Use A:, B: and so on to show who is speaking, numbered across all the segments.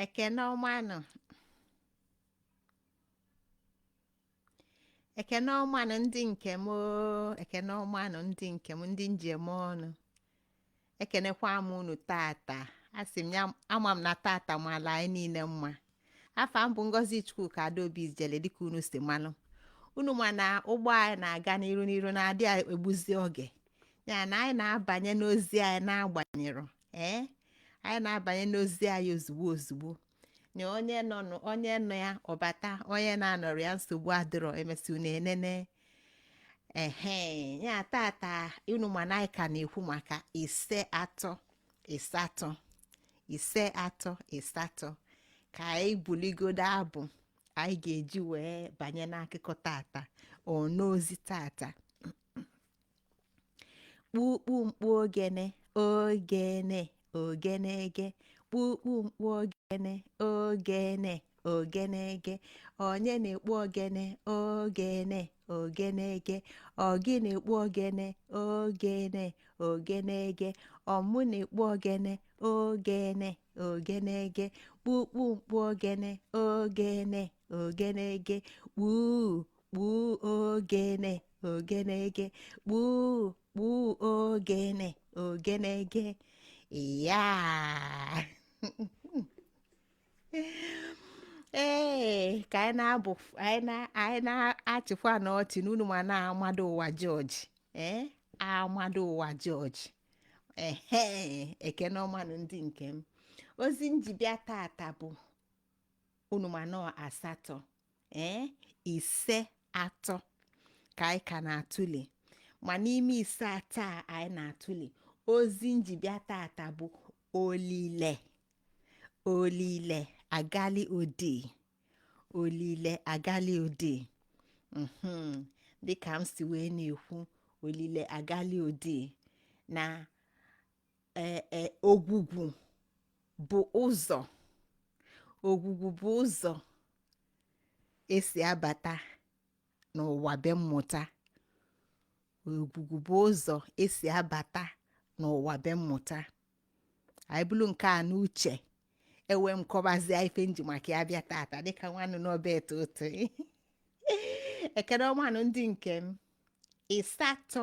A: ekene ọmanụ ekene ọmanụ ndị nke m oo, ekene ọmanụ ndị nke m ndị njem ọnụ ekenekwa m unu tata asị m ya ama m na tata mala anyị niile mma afa m bụ ngozi chukwuka adaobi ijele dịka unu si malụ unu ma na ụgbọ anyị na-aga n'iru n'iru na-adị egbuzi oge ya na anyị na-abanye n'ozi anyị na-agbanyerọ ee anyị na-abanye n'ozi anyị ozugbo ozugbo na onye nọ nụ- onye nọ ya ọ bata onye na-anọrọ ya nsogbu adịrọ emesịa unu enene ehe ya tata unu ma na anyị ka na-ekwu maka ise atọ ise atọ ise atọ ise atọ ka anyị buligodo abụ anyị ga-eji wee banye n'akụkọ tata ọ n'ozi tata kpukpu mkpu ogene ogene ogene ege kpukpu mkpu ogene ogene ogene ege onye na-ekpu ogene ogene ogene ege ọgị na-ekpu ogene ogene ogene ege ọmụ na-ekpu ogene ogene ogene ege kpukpu mkpu ogene ogene ogene ege kpuu kpuu ogene ogenege kpuu kpuu ogene ogenege ya ee ka anyị na-abụ anyị na- anyị na-achịkwanụ ọchị n'unu ma na-amado ụwa jọji ee amado ụwa jọji ehe ekene ọmanụ ndị nke m ozi nji bịa tata bụ unu ma na ọ asatọ ee ise atọ ka anyị ka na-atụle ma n'ime ise atọ a anyị na-atụle ozi nji bịa tata bụ olile olile agali odi olile agali odi mhm dịka m si wee na-ekwu olile agali odi na ee e ogwugwu bụ ụzọ ogwugwu bụ ụzọ esi abata n'ụwa be mmụta ogwugwu bụ ụzọ esi abata n'ụwa be mmụta anyị bulu nke a n'uche ewee m kọbazie ife nji maka ya bịa tata dịka nwanụ n'ọba eto otu ekene ọmanụ ndị nke m ịsatọ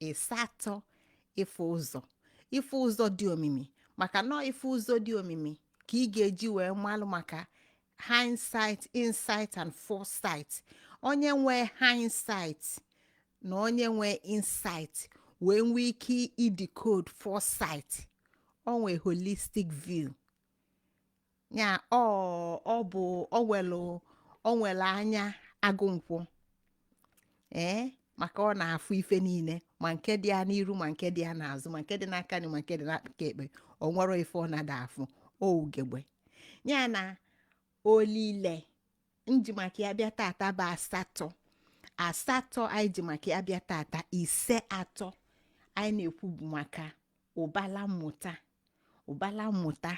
A: ịsatọ ịfụ ụzọ ịfụ ụzọ dị omimi maka na ọ ịfụ ụzọ dị omimi ka ị ga-eji wee malụ maka hindsight insight and foresight onye nwee hindsight na onye nwee insight wee nwee ike idecode foresight o nwee holistic view ya ọ ọ bụ o welu o nwele anya agụ nkwọ ee maka ọ na-afụ ife niile ma nke dị ya n'iru ma nke dị ya n'azụ ma nke dị n'aka nri ma nke dị n'aka ekpe o nwerọ ife ọ na-ada afụ ọ ugegbe ya na olile nji maka ya bịa tata bụ asatọ asatọ anyị ji maka ya bịa tata ise atọ anyị na-ekwu bụ maka ụbala mmụta ụbala mmụta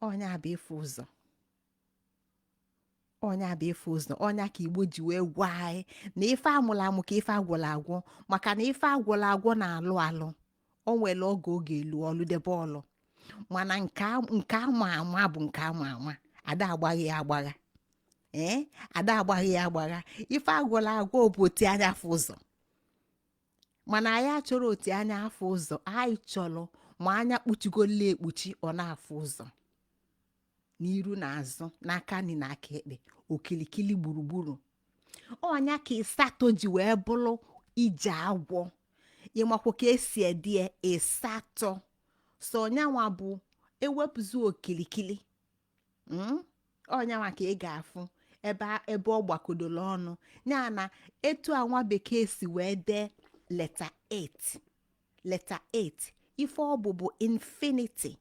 A: ọ nya bụ ịfụ ụzọ ọ nya bụ ịfụ ụzọ ọ nya ka igbo ji wee gwa anyị na ife amụla amụ ka ife agwọla agwọ maka na ife agwọla agwọ na-alụ alụ o nwere oge ọ ga-alụ ọlụ debe ọlụ mana nke a- nke ama ama bụ nke ama ama ada agbaghị ya agbagha ee ada agbaghị ya agbagha ife agwọla agwọ bụ oti anya afụ ụzọ mana anyị achọrọ oti anya afụ ụzọ anyị chọrọ ma anya kpuchigola ekpuchi ọ na-afụ ụzọ n'iru na azụ n'aka nri na aka ekpe okilikili gburugburu ọ nya ka ịsatọ ji wee bụrụ ije agwọ ị makwa ka e si ede ya ịsatọ so ọ nyanwa bụ ewepụzi okilikili Mm? ọ nyanwa ka ị ga-afụ ebe a- ebe ọ gbakodoro ọnụ ya na etu a nwa bekee si wee dee leta 8 leta 8 ife ọ bụ bụ infinity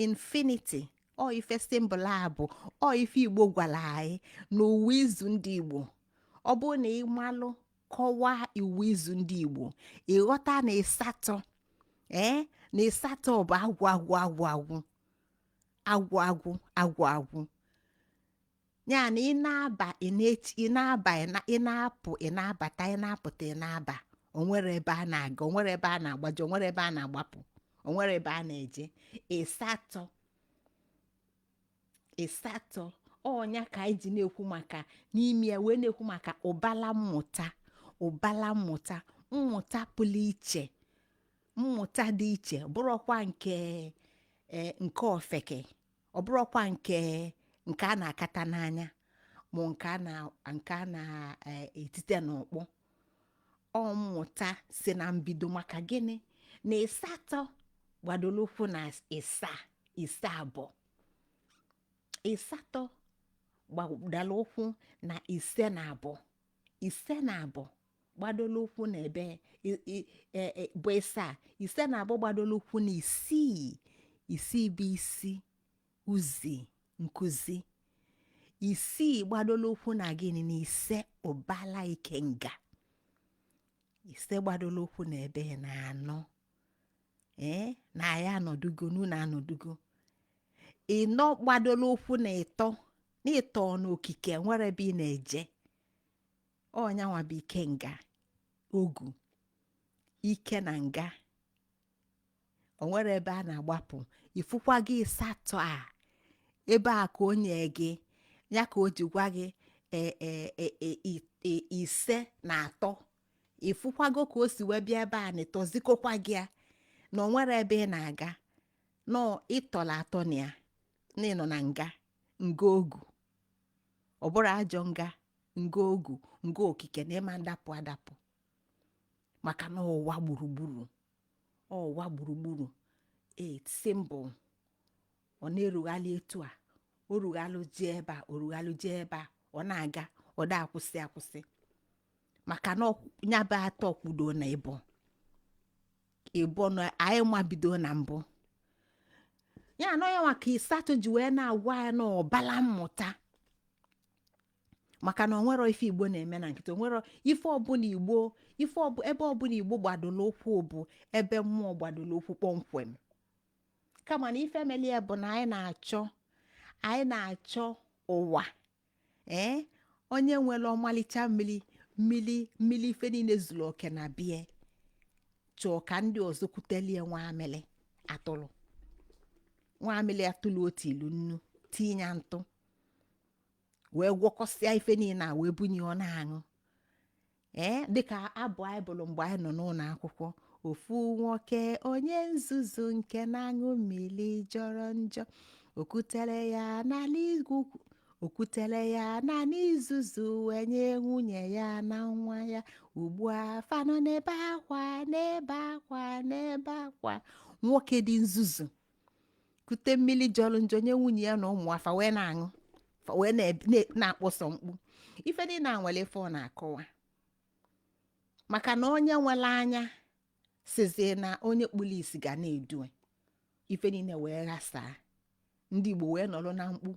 A: infinity ọ ife symbol a bụ ọ ife igbo gwara anyị n'iwu izu ndị igbo ọ bụrụ na ị malụ kọwaa iwu izu ndị igbo ị ghọta na ịsatọ ee na ịsatọ bụ agwụ agwụ agwụ agwụ agwụ agwụ agwụ agwụ ya na ị na-aba ị na-eti ị na-aba ị na- ị na-apụ ị na-abata ị na-apụta ị na-aba o nwerọ ebe a na-aga o nwerọ ebe a na-agbaje o nwerọ ebe a na-agbapụ o nwerọ ebe a na-eje ịsatọ ịsatọ ọ nya ka anyị ji na-ekwu maka n'ime ya wee na-ekwu maka ụbala mmụta ụbala mmụta mmụta pụrụ iche mmụta dị iche ọ bụrọkwa nke eh, nke ofeke ọ bụrọkwa nke nke a na-akata n'anya ma nke a na nke a na-etite n'ọkpọ ọ mmụta si na mbido maka gịnị na ịsatọ gbadoro ụkwụ na ịsa ise abụọ ịsatọ gbadoro ụkwụ na ise na abụọ ise na abụọ gbadola ụkwụ na ebe i- i- e- e- bụ ịsa ise na abụọ gbadola ụkwụ na isii isii bụ isi uzi nkụzi isii gbadola ụkwụ na gịnị na ise ụbala ikenga ise gbadola ụkwụ na ebe na anọ ee na ya anọdugo n'ụlọ anọdugo ịnọ gbadola ụkwụ na ịtọ na ịtọ n'okike nwere ebe ị na-eje ọ nya nwa bụ ikenga ogu ike na nga o nwere ebe a na-agbapụ ifụkwago ịsatọ a ebe a ka o nye gị ya ka o ji gwa gị e, e, e, e, i- i- ise na atọ ifụkwago ka o si wee bịa ebe a na ịtọ zikokwa gị ya na o nwere ebe ị na-aga na ị tọla atọ na ya na ị nọ na nga nga ogu ọ bụrụ ajọ nga nga ogu nga okike na ị ma adapụ adapụ maka na ụwa gburugburu ụwa gburugburu e symbol ọ na-erughalị etu a o rughalụ jee ebe a o rughalụ jee ebe a ọ na-aga ọ da akwụsị akwụsị maka na ọ- ya bụ atọ kwudo na ịbọ ịbọ na anyị mabido na mbụ ya anọ ya maka ịsatọ ji wee na-agwa ya na ụbala mmụta maka na onwero ife igbo na-eme na nkịtị onwero ife ọbụla igbo ife ọbụ ebe ọbụla igbo gbadoro ụkwụ bụ ebe mmụọ gbadoro ụkwụ kpọmkwem kama na ife meli ya bụ na anyị na-achọ anyị na-achọ ụwa ee onye nwere ọmalịcha mmiri mmiri mmiri ife niile zuru oke na be ya chọọ ka ndị ọzọ kutelie nwamịrị atụrụ nwamịrị atụrụ otu ilu nnu tinye ya ntụ wee gwọkọsịa ife niile a wee bunye ọ na-aṅụ ee dịka abụ anyị bụrụ mgbe anyị nọ n'ụlọ akwụkwọ ofu nwoke onye nzuzu nke na-aṅụ mmiri jọrọ njọ o kutere ya n'ala igwu o kutere ya naanị izuzu wee nye nwunye ya na nwa ya ugbu a fa nọ na-ebe akwa na-ebe akwa na-ebe akwa nwoke dị nzuzu kute mmiri jọrọ njọ nye nwunye ya na ụmụ ya fa wee na-aṅụ fa wee na-eb- na- na-akpọsọ mkpu ife niile a nwere ife ọ na-akọwa maka na onye nwere anya sịzie na onye kpụrụ isi ga na-edu ya ife niile wee ghasaa ndị igbo wee nọrọ na mkpu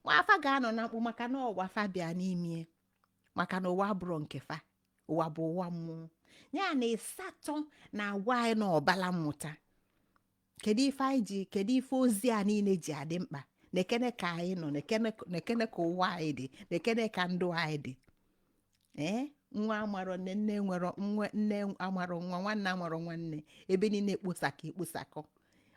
A: ma fa ga-anọ na mkpu maka na ụwa fa bịa n'ime maka na ụwa abụrọ nke fa ụwa bụ ụwa mmụọ ya na ịsatọ na-agwa anyị na ụbala mmụta kedu ife anyị ji kedu ife ozi a niile ji adị mkpa nekene ka anyị nọ nekene ka ụwa anyị dị nekene ka ndụ anyị dị ee nwa amarọ nne nne nwere nwa nne amarọ nwa nwanne amarọ nwanne ebe niile ekposakọ ekposakọ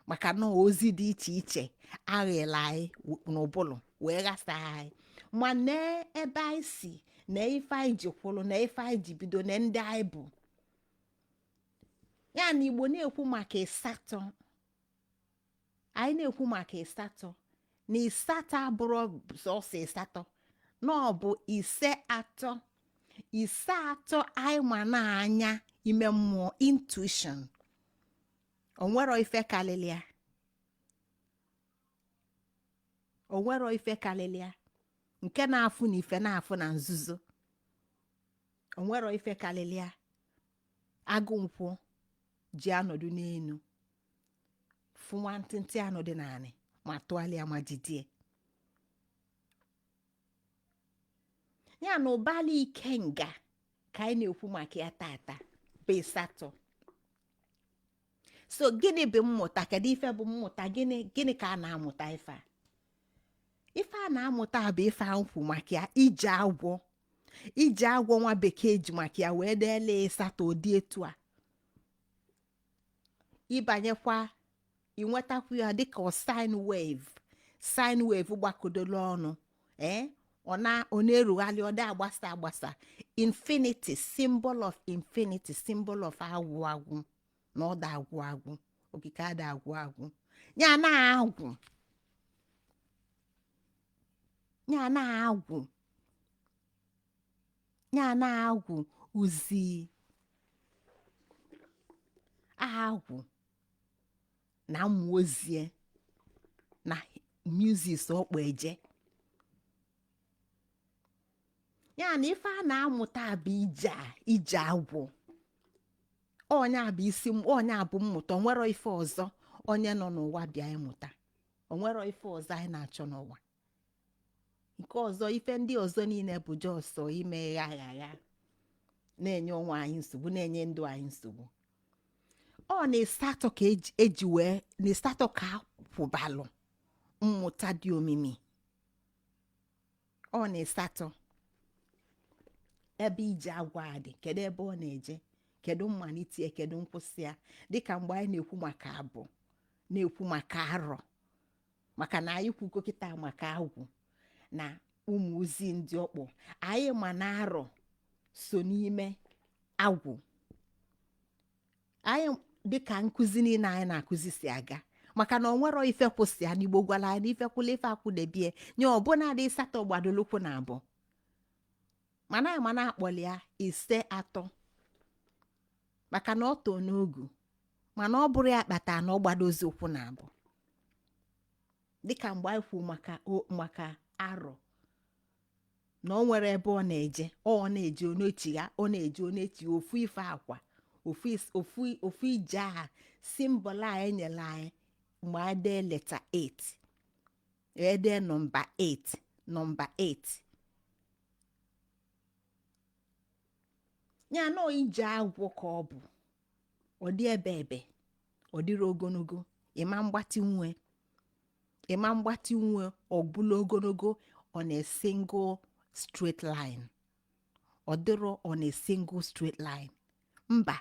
A: maka na ozi dị iche iche aghala anyị n'ụbụlụ wee ghasa anyị ma na ebe anyị si na ife anyị ji kwụrụ na ife anyị ji bido na ndị anyị bụ ya na igbo na-ekwu maka ịsatọ anyị na-ekwu maka ịsatọ na ịsatọ abụrọ sọsọ ịsatọ na ọ bụ ise atọ ise atọ anyị ma na anya ime mmụọ intuition o nwerọ ife kalịlị ya o nwerọ ife kalịlị ya nke na-afụ na ife na-afụ na nzuzo o nwerọ ife kalịlị ya agụ nkwọ ji anọdụ n'elu fụ nwantịntị anụ dị n'anị ma tụgharịa ma jidie ya na ụbala ikenga ka anyị na-ekwu maka ya tata bụ ịsatọ so gịnị bụ mmụta kedu ife bụ mmụta gịnị gịnị ka a na-amụta ife a ife a na-amụta bụ ife a na-ekwu maka ya ije agwọ ije agwọ nwa bekee ji maka ya wee deele ịsatọ ụdị etu a ị banyekwa i nwetakwu ya dịka sine wave sine wave gbakọdoro ọnụ ee ọ na ọ na-erugharị ọ dị agbasa agbasa infinity symbol of infinity symbol of agwụ agwụ na ọ da agwụ agwụ okike ada agwụ agwụ ya na agwụ ya na agwụ ya na agwụ uzi agwụ na mmụọ ozie na muses ọkpọ eje ya na ife a na-amụta bụ ije a ije agwụ ọ nya bụ isi m- ọ nya bụ mmụta o nwerọ ife ọzọ onye nọ n'ụwa bịa ịmụta o nwerọ ife ọzọ anyị na-achọ n'ụwa nke ọzọ ife ndị ọzọ niile bụ just ime gha gha gha na-enye onwe anyị nsogbu na-enye ndụ anyị nsogbu ọ na ịsatọ ka eji- eji wee na ịsatọ ka a kwụbalụ mmụta dị omimi ọ na ịsatọ ebe ije agwọ a dị kedu ebe ọ na-eje kedu mmalite ya kedu nkwụsị ya dịka mgbe anyị na-ekwu maka abụ na-ekwu maka arọ maka na anyị kwugo kịta maka agwụ na ụmụ ozi ndị ọkpọ anyị ma na arọ so n'ime agwụ anyị dịka nkụzi niile anyị na-akụzi si aga maka na o nwerọ ife kwụ sọ ya n'igbo gwara anyị na ife kwụlụ ife akwụdebe ya ọ bụ na dị ịsatọ gbadolụ ụkwụ na abụọ mana anyị ma na-akpọli ya ise atọ maka na ọ too n'ọgụ mana ọ bụrụ ya kpata na ọ gbadozi ụkwụ na abụọ dịka mgbe anyị kwuo maka o- maka arọ na ọ nwere ebe ọ na-eje ọ ọ na-eje ọ na-echigha ọ na-eje ọ na-echigha ofu ife a kwa ofu is- ofu ofu ije aha simbọl a enyela anyị mgbe anyị dee leta 8 e dee nọmba 8 nọmba 8 ya na ije agwọ ka ọ bụ ọ dị ebe ebe ọ dịrọ ogologo ị ma agbatịnwu ya ị ma agbatịnwu ya ọ bụlụ ogologo on a single straight line ọ dịrọ on a single straight line mba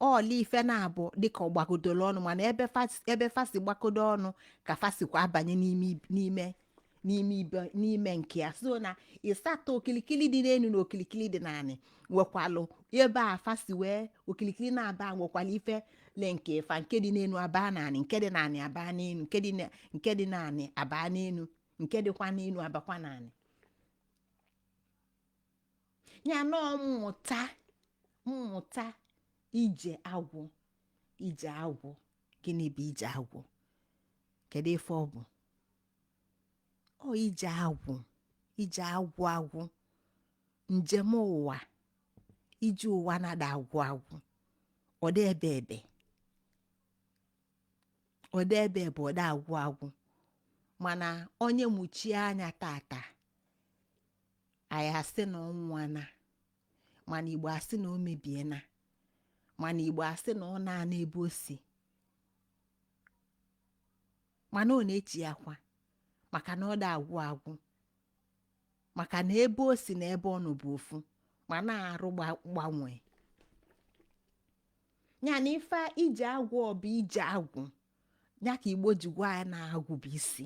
A: ọ bụlụ ife naabọ dịka ọ gbakọdoro ọnụ mana ebe fas- ebe fa si gbakọdo ọnụ ka fa sikwa abanye n'ime ib- n'ime n'ime ibe n'ime nke ya so na ịsatọ okilikili dị n'elu na okilikili dị n'anị nwekwalụ ebe fa si wee okilikili naabọ nwekwalụ ife linkị fa nke dị n'elu abaa n'anị nke dị n'anị abaa n'elu nke dị na- nke dị n'anị abaa n'elu nke dịkwa n'elu abakwa n'anị ya na mmụta mmụta ije agwụ ije agwụ gịnị bụ ije agwụ kedu ife ọ bụ ọ ije agwụ ije agwụ agwụ njem ụwa ije ụwa na ada agwụ agwụ ọ dị ebe ebe ọ dị ebe ebe ọ da agwụ agwụ mana onye muchie anya tata anyị asị na ọ nwụana mana igbo asị na o mebiena mana igbo asị na ọ naana ebe o si mana ọ na-echighakwa maka na ọ da agwụ agwụ maka na ebe o si na ebe ọ nọ bụ ofu mana arụ gba- gbanwee ya na ife ije agwụ ọ bụ ije agwụ ya ka igbo ji gwa ya na agwụ bụ isi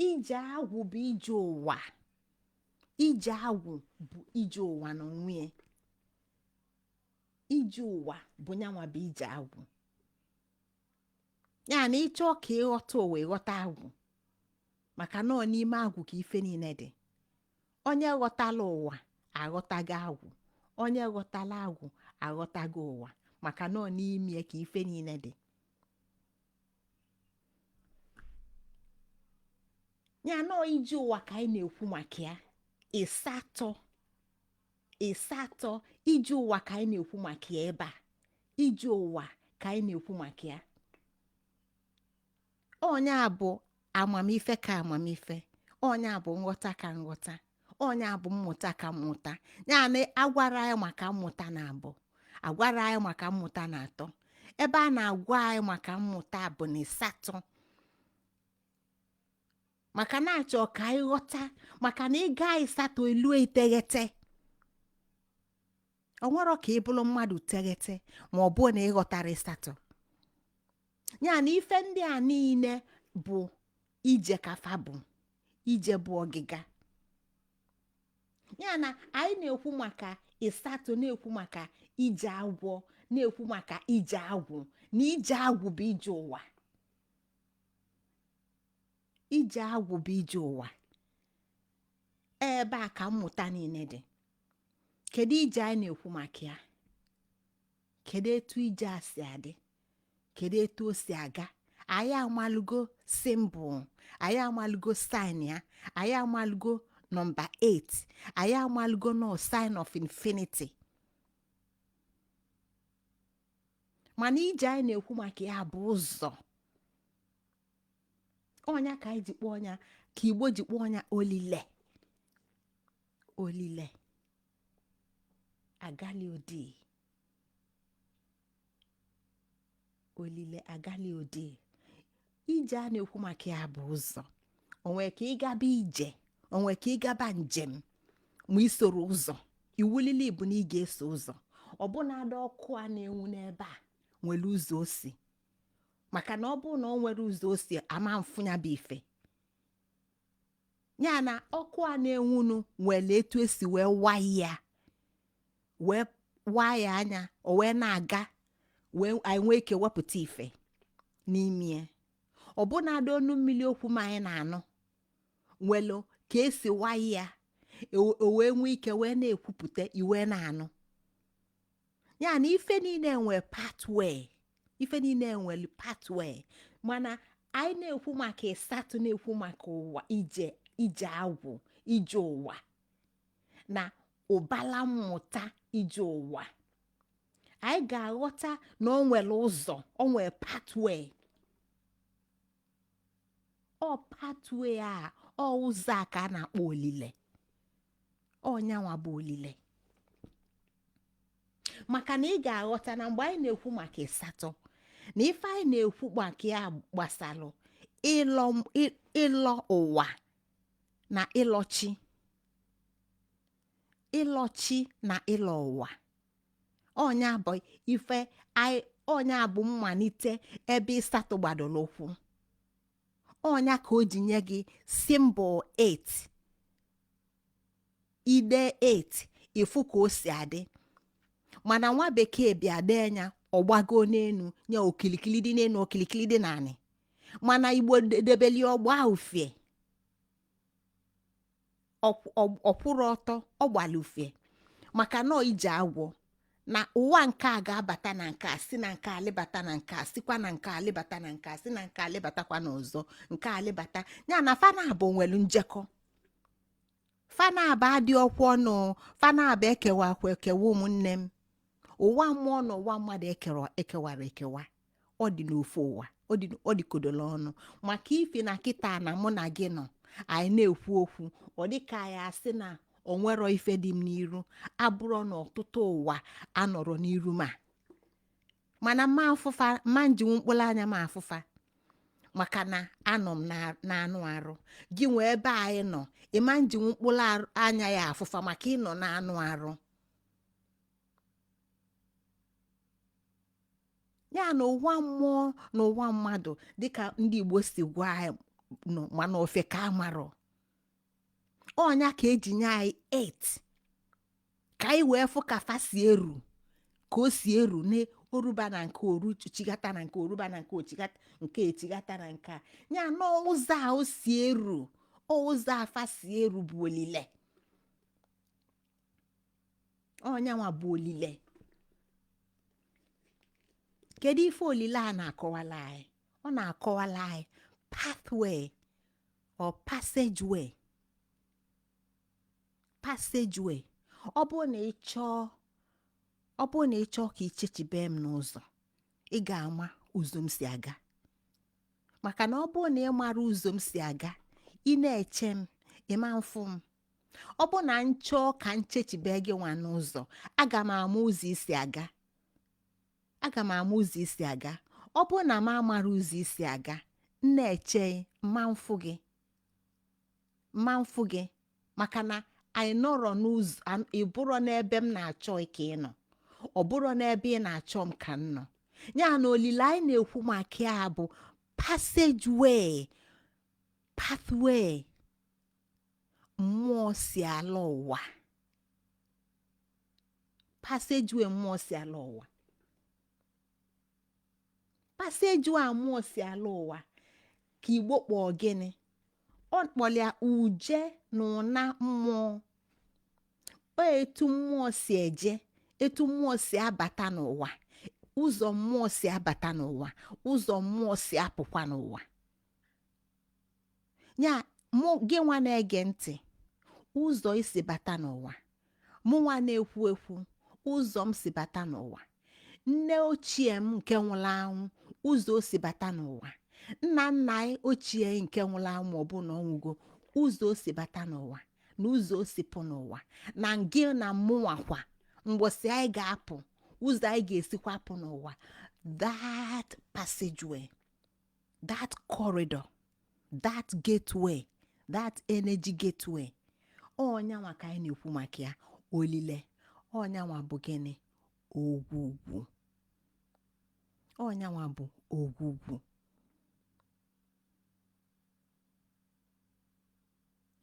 A: ije agwụ bụ ije ụwa ije agwụ bụ ije ụwa n'onwe ya ije ụwa bụ nyanwa bụ ije agwụ ya na ịchọ ka ịghọta ụwa ịghọta agwụ maka na ọ n'ime agwụ ka ife niile dị onye ghọtalụ ụwa aghọtago agwụ onye ghọtalụ agwụ aghọtago ụwa maka na ọ n'ime ka ife niile dị ya na ọ ije ụwa ka anyị na-ekwu maka ya ịsatọ ịsatọ ije ụwa ka anyị na-ekwu maka ya ebe a ije ụwa ka anyị na-ekwu maka ya ọ nya bụ amamife ka amamife ọ nya bụ nghọta ka nghọta ọ nya bụ mmụta ka mmụta ya na agwara anyị maka mmụta na abụọ agwara anyị maka mmụta na atọ ebe a na-agwa anyị maka mmụta bụ na ịsatọ maka na achọ ka anyị ghọta maka na ịga ịsatọ elu iteghete o nwero ka ị bụrụ mmadụ teghete ma ọ bụ na ị ghọtarọ ịsatọ ya na ife ndị a niile bụ ije ka fa bụ ije bụ ọgịga ya na anyị na-ekwu maka ịsatọ na-ekwu maka ije agwọ na-ekwu maka ije agwụ na ije agwụ bụ ije ụwa ije agwụ bụ ije ụwa ebe a ka mmụta niile dị kedu ije anyị na-ekwu maka ya kedu etu ije a si adị kedu etu o si aga anyị amalụgo symbol anyị amalụgo sign ya anyị amalụgo number 8 anyị amalụgo na ọ sign of infinity mana ije anyị na-ekwu maka ya bụ ụzọ ọ nya ka anyị ji kpọọ ọ nya ka igbo ji kpọọ nya olile olile agali odi olile agali odi ije a na-ekwu maka ya bụ ụzọ o nwe ka ị gaba ije o nwe ka ị gaba njem ma i soro ụzọ iwulili bụ na ị ga-eso ụzọ ọbụnadị ọkụ a na-enwu n'ebe a nwere ụzọ o si maka na ọ bụrụ na o nwero ụzọ o si a ma afụ ya bụ ife ya na ọkụ a na-enwunu nwere etu esi wee wire ya wee wire nya o wee na-aga wee anyị nwee ike wepụta ife n'ime ya ọbụnadị ọnụ mmiri okwu m anyị na-anụ nwelu ka esi wire ya o o wee nwee ike wee na-ekwupụta i wee na-anụ ya na ife niile nwere pathway ife niile nwere pathway mana anyị na-ekwu maka ịsatọ na-ekwu maka ụwa ije ije agwọ ije ụwa na ụbala mmụta ije ụwa anyị ga-aghọta na o nwere ụzọ o nwere pathway ọ pathway a ọ ụzọ a ka a na-akpọ olile ọ nyanwa bụ olile maka na ị ga-aghọta na mgbe anyị na-ekwu maka ịsatọ na ife anyị na-ekwu maka ya gbasalụ ịlọ m- ị- ịlọ ụwa na ịlọchi ịlọchi na ịlọ ụwa ọ nya bụ ife anyị ọ nya bụ mmalite ebe ịsatọ gbadoro ụkwụ ọ nya ka o ji nye gị symbol 8 i dee 8 ị fụ ka o si adị mana nwa bekee bịa dee nya ọ gbago n'enu nye okilikili dị n'enu okilikili dị n'anị mana igbo debeli ọ gbaa ufie Ọ- ọ- ọ kwụrọ ọtọ ọ gbara ufie maka na ọ ije agwọ na ụwa nke a ga-abata na nke a si na nke a lịbata na nke a sikwa na nke a lịbata na nke a si na nke a lịbatakwa na ọzọ nke a lịbata ya na fa naabọ nwere njekọ fa naabọ dịkọ ọnụ fa naabọ ekewarọkwa ekewa ụmụnne m ụwa mmụọ na ụwa mmadụ ekewa ekewarọ ekewa ọ dị n'ofu ụwa ọ dị ọ dịkọdolu ọnụ maka ị fụ na kịta na mụ na gị nọ anyị na-ekwu okwu ọ dị ka anyị asị na o nwerọ ife dị m n'iru ọ bụrọ na ọtụtụ ụwa anọrọ n'iru m mana m ma afụ fa m ma ejinwu mkpụrụ anya m afụ fa maka na anọ m na- n'anụ arụ gị nwa ebe ị nọ ị ma ejinwu mkpụrụ arụ- anya ya afụ fa maka ị nọ n'anụ arụ ya na ụwa mmụọ na ụwa mmadụ dịka ndị igbo si gwa anyị nọ mana ofeke amarọ ọ nya ka e ji nye anyị 8 ka anyị wee fụ ka fa si eru ka o si eru na o ruba na nke o ruchigata na nke o ruba na nke o chigata nke e chigata na nke a ya na ụzọ a o si eru ụzọ a fa si eru bụ olile ọ nyanwa bụ olile kedu ife olile a na-akọwalụ anyị ọ na-akọwalụ anyị pathway or passageway passageway ọ bụrụ na ị chọọ ọ bụrụ na ị chọọ ka i chechibe m n'ụzọ ị ga-ama ụzọ m si aga maka na ọ bụrụ na ị marọ ụzọ m si aga ị na-eche m ị ma afụ m ọ bụ na m chọọ ka m chechibe gị nwa n'ụzọ aga m ama ụzọ i si aga aga m ama ụzọ i si aga ọ bụ na m amara ụzọ i si aga m na-eche m ma afụ gị m ma afụ gị maka na anyị nọrọ n'ụzọ an- ị bụrọ n'ebe m na-achọ ị ka ị nọ ọ bụrọ n'ebe ị na-achọ m ka m nọ ya na olile anyị na-ekwu maka ya bụ passageway pathway mmụọ si alọ ụwa passageway mmụọ si alọ ụwa passageway a mmụọ si alọ ụwa ka igbo kpọọ gịnị ọ kpọlụ ya uje na ụna mmụọ ọ etu mmụọ si eje etu mmụọ si abata n'ụwa ụzọ mmụọ si abata n'ụwa ụzọ mmụọ si apụkwa n'ụwa ya mụ gị nwa na-ege ntị ụzọ i si bata n'ụwa mụ nwa na-ekwu ekwu ụzọ m si bata n'ụwa nne ochie m nke nwụlụ anwụ ụzọ o si bata n'ụwa nna nna anyị ochie nke nwụlụ anwụ ma ọ bụ na ọ nwụgo ụzọ o si bata n'ụwa na ụzọ o si pụ n'ụwa na gị na mụnwa kwa mgbọsị anyị ga-apụ ụzọ anyị ga-esikwa pụ n'ụwa that passageway that corridor that gateway that energy gateway ọ nya nwa ka anyị na-ekwu maka ya olile ọ nya nwa bụ gịnị ogwugwu ọ nya nwa bụ ogwugwu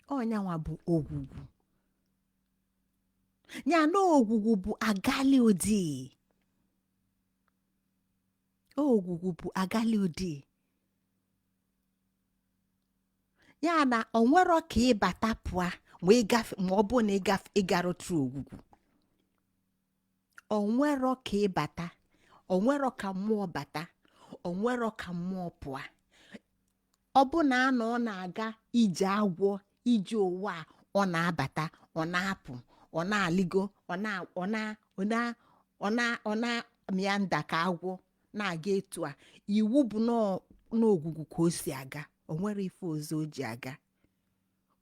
A: ọ nya nwa bụ ogwugwu ya na ogwugwu bụ agali odii ogwugwu bụ agali odii ya na onwero ka ị bata pụa ma ọ bụ na ị garutero ogwugwu onwero ka ị bata onwero ka mmụọ bata onwero ka mmụọ pụa ọ bụ na a na ọ na-aga ije agwọ ije ụwa a, ọ na-abata ọ na-apụ ọ na-alịgo ọ na ọ na ọ na ọ na ọ na-amịa nda ka agwọ na-aga etu a iwu bụ n'ọ- n'ogwugwu ka o si aga onwero ife ọzọ o ji aga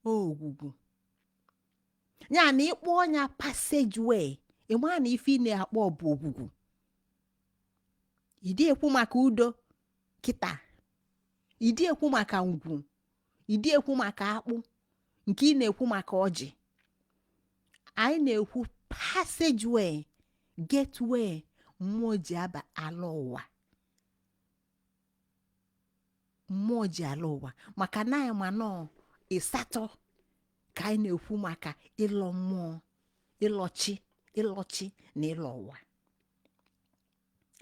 A: ogwugwu ya na ị kpọọ nya passageway ị maa na ife ị na-akpọ bụ ogwugwu ị dị ekwu maka udo kịta ịdị ekwu maka ngwu ịdị ekwu maka akpụ nke ị na-ekwu maka ọjị anyị na-ekwu passageway gateway mmụọ ji aba alọ ụwa mmụọ ji alọ ụwa maka na anyị ma na ọ isi atọ ka anyị na-ekwu maka ịlọ mmụọ ịlọchi ịlọchi na ịlọ ụwa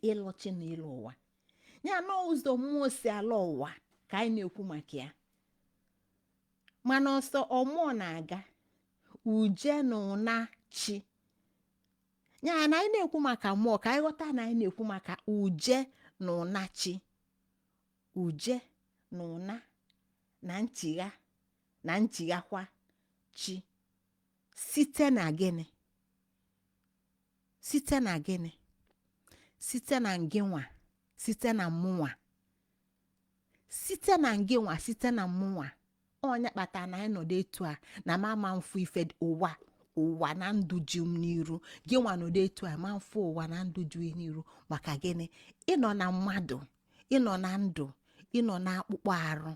A: ịlọchi na ịlọ ụwa ya na ụzọ mmụọ si alọ ụwa ka anyị na-ekwu maka ya mana ọ sọ mmụọ na-aga uje na ụna chi ya na anyị na-ekwu maka mmụọ ka anyị ghọta na anyị na-ekwu maka uje na ụna chi uje na ụna na nchịgha na nchịghakwa chi site na gịnị site na gịnị site na ngịnwa site na mụnwa site na ngịnwa site na mụnwa onye kpatara na anyị nọdụ etu a na m ama mfụ ife dị- ụwa ụwa na ndụ ji m n'iru gị nwa nọdụ etu a ma mfụ ụwa na ndụ ji gị n'iru maka gịnị ị nọ na mmadụ ị nọ na ndụ ị nọ na akpụkpọ arụ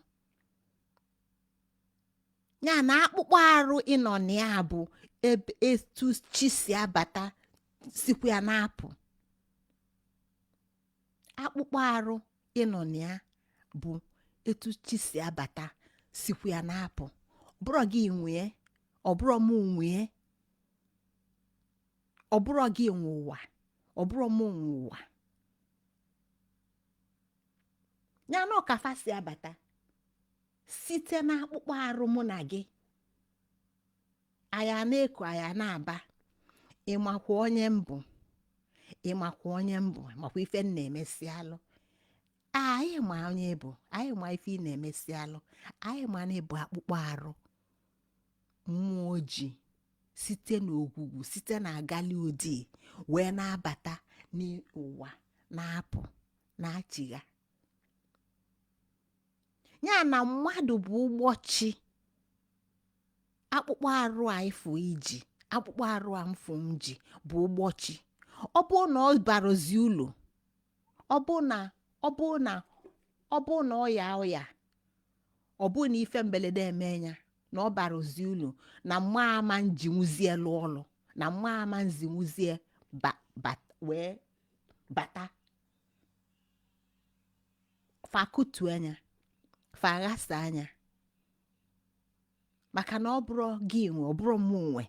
A: ya na akpụkpọ arụ ị nọ na ya bụ ebe etu chi si abata sikwa ya na-apụ akpụkpọ arụ ị nọ na ya bụ etu chi si abata sikwa ya na-apụ ọ bụrọ gị nwee ọ bụrọ m nwee ọ bụrọ gị nwe ụwa ọ bụrọ m nwe ụwa ya na ọ ka fa si abata site na akpụkpọ arụ mụ na gị aya na-eku aya na-aba ị makwa onye m bụ ị makwa onye m bụ makwa ife m na-emesi alụ anyị ma onye ị bụ anyị ma ife ị na-emesi alụ anyị ma na ị bụ akpụkpọ arụ mmụọ ji site n'ogwugwu site na agali odi wee na-abata n'ụwa na-apụ na-achịgha ya na mmadụ bụ ụgbọ chi akpụkpọ arụ a ị fụ i ji akpụkpọ arụ a m fụ m ji bụ ụgbọ chi ọ bụ na ọ barozi ulu ọ bụ na ọ yaa ọya ọ bụ na ife mberede eme ya na ọ barozi ulu na m ama njinwuzie lụ ọlụ na m ama nzinwuzie ba ba wee bata fa kutu anya fa ghasa anya maka na ọ bụrọ gị nwe ọ bụrọ mụ nwe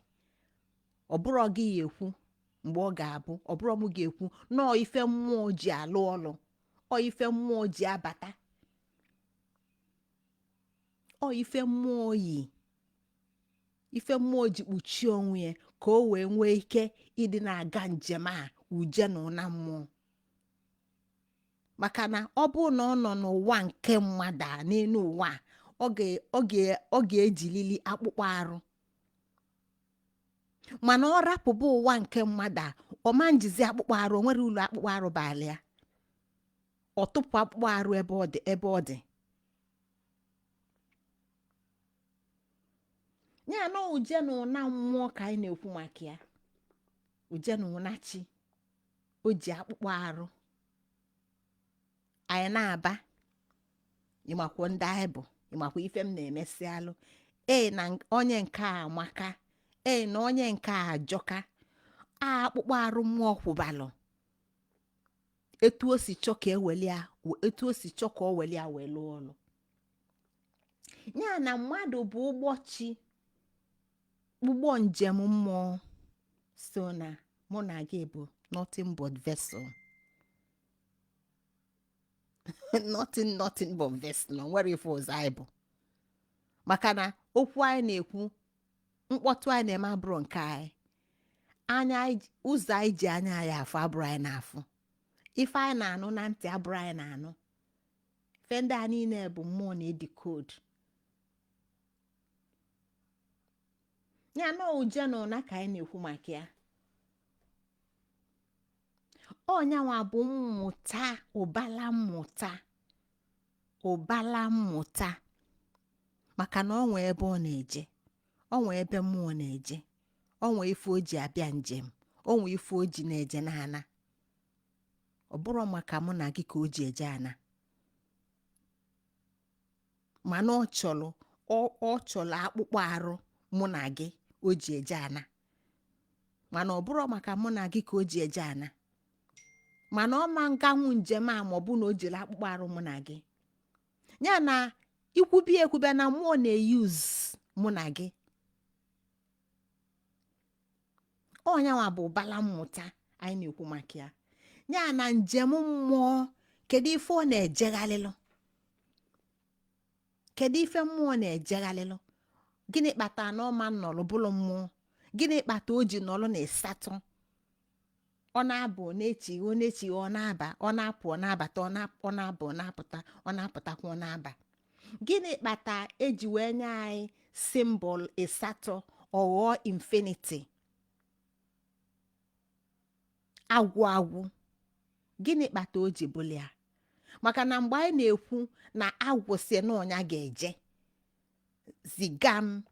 A: ọ bụrọ gị ya-ekwu mgbe ọ ga-abụ ọ bụrọ mụ ga-ekwu na ọ ife mmụọ ji alụ ọlụ ọ ife mmụọ ji abata ọ ife mmụọ yi ife mmụọ ji kpuchie onwe ya ka o wee nwee ike ịdị na-aga njem a uje na ụna mmụọ maka na ọ bụ na ọ nọ n'ụwa nke mmadụ a n'elu ụwa a, ọ ga- ọ ga- ọ ga-ejilili akpụkpọ arụ mana ọ rapụba ụwa nke mmadụ a ọ ma njizi akpụkpọ arụ o nwerọ ulu akpụkpọ arụ balụ ya ọ tụpụ akpụkpọ arụ ebe ọ dị ebe ọ dị ya na uje na ụna mmụọ ka anyị na-ekwu maka ya uje na ụna chi o ji akpụkpọ arụ anyị na-aba ị makwa ndị anyị bụ ị makwa ife m na-emesi alụ ee na nk- onye nke a amaka ee na onye nke a ajọka a akpụkpọ arụ mmụọ kwụbalụ etu o si chọ ka e weli ya etu o si chọ ka o weli ya wee lụọ ọlụ ya na mmadụ bụ ụgbọ chi ụgbọ njem mmụọ so na mụ na gị bụ nothing but vessel nothing nothing but vessel o nwerọ ife ọzọ anyị bụ maka na okwu anyị na-ekwu mkpọtụ anyị na-eme abụrọ nke anyị anya anyị ji- ụzọ anyị ji anya anyị afụ abụrọ anyị na-afụ ife anyị na-anụ na ntị abụrọ anyị na-anụ ife ndị a niile bụ mmụọ na-edecode ya na uje na ụna ka anyị na-ekwu maka ya ọ nyanwa bụ mmụta ụbala mmụta ụbala mmụta maka na o nwee ebe ọ na-eje o nwee ebe mmụọ na-eje o nwee ife o ji abịa njem o nwee ife o ji na-eje na-ana ọ bụrọ maka mụ na gị ka o ji eje ana mana ọ chọ- ọ- ọ chọlụ akpụkpọ arụ mụ na gị o ji eje ana mana ọ bụrọ maka mụ na gị ka o ji eje ana mana ọ ma nganwu njem a ma ọ bụ na o jirọ akpụkpọ arụ mụ na gị ya na ikwubi ekwube na mmụọ na-use mụ na gị ọ nyanwa bụ ụbala mmụta anyị na-ekwu maka ya ya na njem mmụọ kedu ife ọ na-ejeghalịlụ kedu ife mmụọ na-ejeghalịlụ gịnị kpata na ọ ma nnọlụ bụlụ mmụọ gịnị kpata o ji nọlụ na ịsatọ ọ na-abụ ọ na-echigha ọ na-echigha ọ na-aba ọ na-apụ ọ na-abata ọ na- ọ na-abụ ọ na-apụta ọ na-apụtakwa ọ na-aba gịnị kpata eji wee nye anyị symbol ịsatọ ọ ghọọ infinity agwụ agwụ gịnị kpata o ji bụlụ ya maka na mgbe anyị na-ekwu na agwụ sị na ọ nya ga-eje ziga m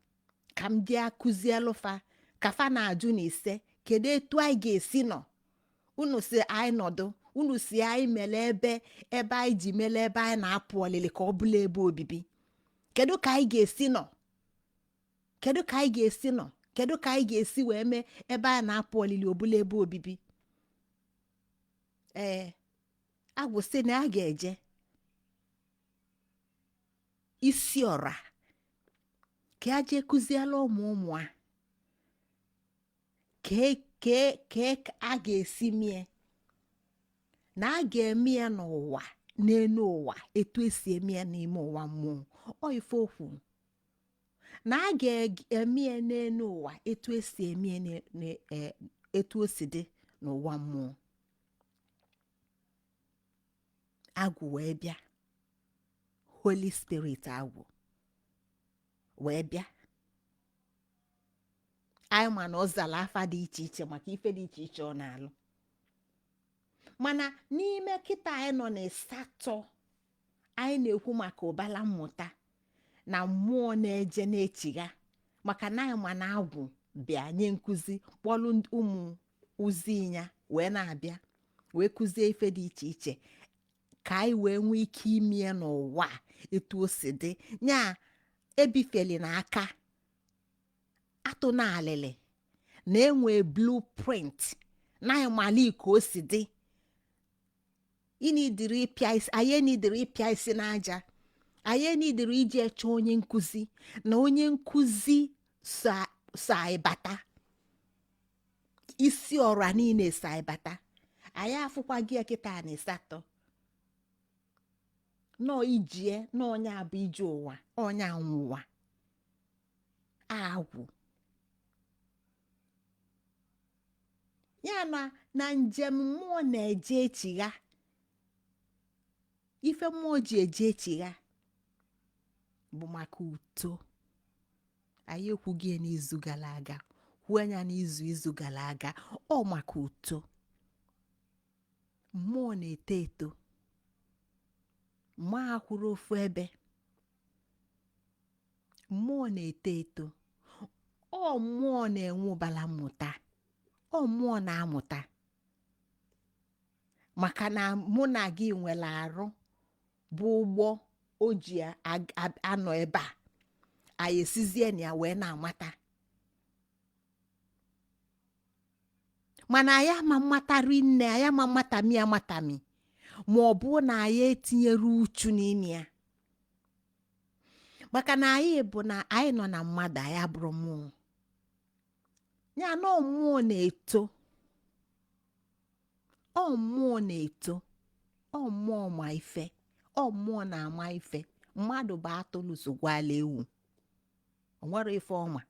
A: ka m bịa kụzielụ fa ka fa na-ajụ na ise kedu etu anyị ga-esi nọ unu sị anyị nọdụ unu sị anyị mere ebe ebe anyị ji mere ebe anyị na-apụ ọlịlị ka ọ bụlụ ebe obibi kedu ka anyị ga-esi nọ kedu ka anyị ga-esi nọ kedu ka anyị ga-esi wee mee ebe anyị na-apụ ọlịlị ọ bụlụ ebe obibi ee agwụ sị na a ga-eje isi ọra ka a jee kụzielụ ụmụ ụmụ a kee kee kee ka a ga-esi mee na a ga-eme ya n'ụwa n'elu ụwa etu esi eme ya n'ime ụwa mmụọ ọ ife o kwu na a ga-eme ya n'elu ụwa etu esi eme ya n'e- n'e- e- etu o si dị n'ụwa mmụọ agwụ wee bịa holy spirit agwụ wee bịa anyị ma na ọ zara afa dị iche iche maka ife dị iche iche ọ na-alụ mana n'ime kịta anyị nọ n'ịsatọ anyị na-ekwu maka ụbala mmụta na mmụọ na-eje na-echigha maka na anyị ma na agwụ bịa nye nkụzi kpọlụ ụmụ ozi ya wee na-abịa wee kụzie ife dị iche iche ka anyị wee nwee ike ime ya n'ụwa a etu o si dị ya ebifeli na aka atụ na alịlị na e nwe blueprint na ịmalụ ka o si dị anyị eneedirọ ịpịa isi anyị eneedirọ ịpịa isi n'aja anyị eneedirọ ije chọọ onye nkụzi na onye nkụzi so so anyị bata isi ọra niile so anyị bata anyị afụkwago ya kịta na ịsatọ na ọ ije na ọ ya bụ ije ụwa onye anwụọ ụwa agwụ ya na na njem mmụọ na-eje echigha ife mmụọ ji eje echigha bụ maka uto anyị ekwugo ya n'izu gara aga kwuo ya n'izu izu gara aga ọ maka uto mmụọ na-eto eto mmụọ akwụrọ ofu ebe mmụọ na-eto eto ọ mmụọ na-enwe ụbara mmụta ọ mmụọ na-amụta maka na mụ na gị nwere arụ bụ ụgbọ o ji ag- ab- anọ ebe a anyị esizie na ya wee na-amata mana anyị ama amata rinne anyị ama amatami amatami ma ọ bụ na anyị etinyero uchu n'ime ya maka na anyị bụ na anyị nọ na mmadụ anyị abụrụ mmụọ ya na mmụọ na-eto ọ mmụọ na-eto ọ mmụọ ma ife ọ mmụọ na-ama ife mmadụ bụ atụrụ sogwala ewu o nwero ife ọ ma